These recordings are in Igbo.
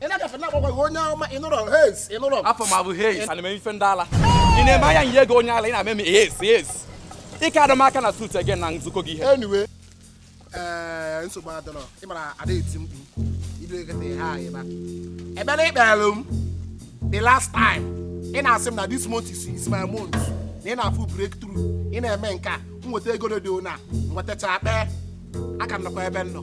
ị na-agafe na-agbakwaghị onye ọma ị nụrụ hez ị nụrụ afa m abụ hez ana m eme ife ndị ala ị na-eme anya nye ego onye ala ị na-eme m hez hez ike adọ m aka na suit again na nzukọ gị ihe anyway ee nsogbu adịrọ ị mara ada eti mkpu ido ekete ihe anyị ba ebere ikpere m the last time ị na-asị m na this month is, is my month na ị na-afụ breakthrough ị na-eme nke a m nweta ego redio na nwetacha kpee aka m nọkwa ebe m nọ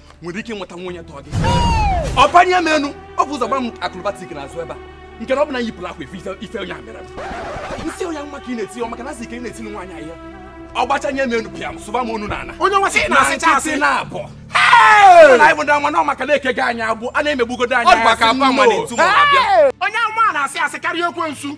nwere ike ịnweta nwunye tọọ gị ọ panye m enu ọ bụ ụzọ gba m akrobatik na azụ ebe a nke na ọ bụ na yipụrụ akwa efe ife- ife onye a mere m nsị onye mma ka ị na-eti ọ maka na asị ka ị na-etili nwaanyị ahịa ọ gbachanye m enu pịa m sụba m ọnụ na ana Onye nwa sị ị na-asịcha asị. nkịtị na-abụ Mụ na anyị bụ ndị ama na ọ maka na-eke gị anyị agbụ a na-emegbugodo anyị Ọ dịkwa ka asị akwa nwa no. na-etu ma ọ na-abịa. onye amụma na-asị asị karịa ekwensu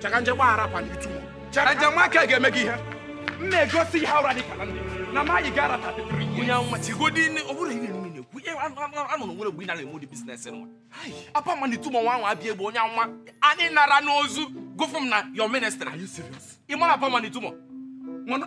chakanje gbaghara kwa n'itu Angel Michael ga-eme gị ihe m na-egosi ihe ụra dị ka na ndị na maghị gara ta onye nwa tigodi ọ bụrụ ihe niile na-ekwu ihe anọ o nwere mgbe ị na-eme ụdị biznes nwa apa ma n'itu ma nwa nwa abịa egbe onye nwa anyị na-ara n'ozu gụfụ m na your ministry ị mara apa ma n'itu ma mana